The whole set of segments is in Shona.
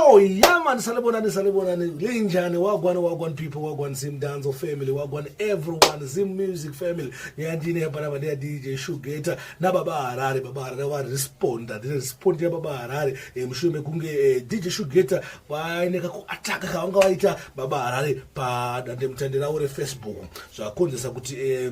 Oh, yeah, man. Salibonani, Salibonani. Linjani, Wagwan, Wagwan people, Wagwan Zim Danzo family, Wagwan everyone, Zim music family. Nyandini hapa na badia DJ Shugeta. Na baba harari, baba harari wa responder. Dine responder ya baba harari. e, mushure mekunge e, eh, dj shugeta vaine kakuataka kavanga vaita baba harare padandemutande ravo refacebook zvakonzesa kuti e,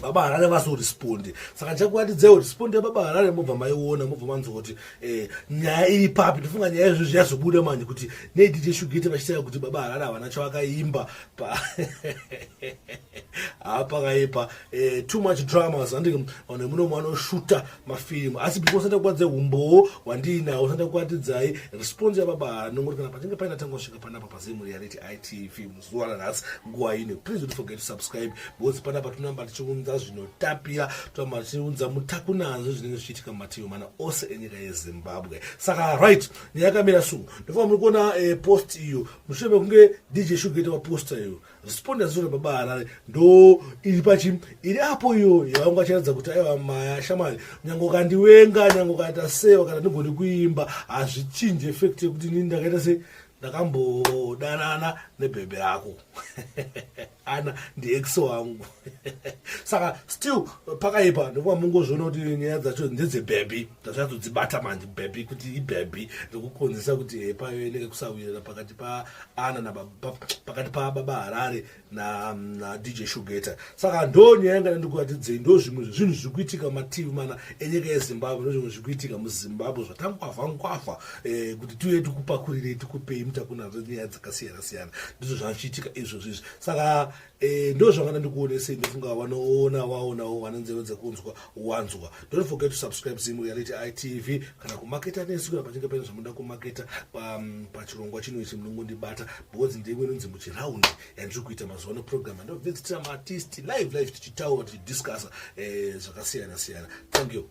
baba harare vazorespondi saka chakuatidzai respondi yababa harare mobva maiona mobva manzwa kuti eh, nyaya iri papi ndofunga nyaya izvozvi yazobuda manje kuti nei dj shugete vachitaira kuti baba harare havana chavakaimba pa haa pakaipa eh, too much dramas andike vanhu vemunomu vanoshuta mafirimu asi before usati kuadze humbowo hwandiinawo usati kuatidzai response yababa hano ngoti kana pachinge paina tanga kusvika panapa pazimu reality itv muzuva ranhasi nguva ino please don't forget to subscribe because panapa tinamba tichiunza zvinotapira tinamba tichiunza mutakunanzvo zvinenge zvichiitika mumativi mana ose enyika yezimbabwe saka right nyaya yakamira so ndofaa muri kuona eh, post iyo mushure mekunge dj shugaita vaposta iyo responders zvo baba harare ndo iri pachi iri apo iyo yavangu achiratidza kuti aiva maya shamwari nyange ukandiwenga nyange ukaita sei kana ndigoni kuimba hazvichinje effect yekuti nini ndakaita sei ndakambodanana nebhebhe rako ana ndiex wangu saka still pakaipa nekuva mungozviona kuti nyaya dzacho ndedzebhebhi tazvatodzibata manje bhebhi kuti ibhebhi rekukonzesa kuti eh, payoeneke kusawirira pakati paana napakati pababa harare nadj na shugeta saka ndonyaya yanga ndandikuatidzei ndo zvimwe zvezvinhu zviri kuitika mativi mana enyika yezimbabwe ndozvimwe zviri kuitika muzimbabwe zvatankwavha nkwavha eh, kuti tiuye tikupakurirei tikupei mutakunaro nyaya dzakasiyana siyana ndizvo zvachiitika izvozvo izvi saka Eh, ndo zvavana ndikuonesei ndofunga vanoona waonawo vane nzeve dzekunzwa wanzwa don't forget to subscribe zimu reality itv kana kumaketa nesu kana pachinge paine zvamunoda kumaketa um, pachirongwa chino ichi munongondibata because ndimwe inonzi muchiraundi yandiri kuita mazuva ano program andobvitsitira maartist live live tichitaura tichidiscussa eh, zvakasiyana siyana thank you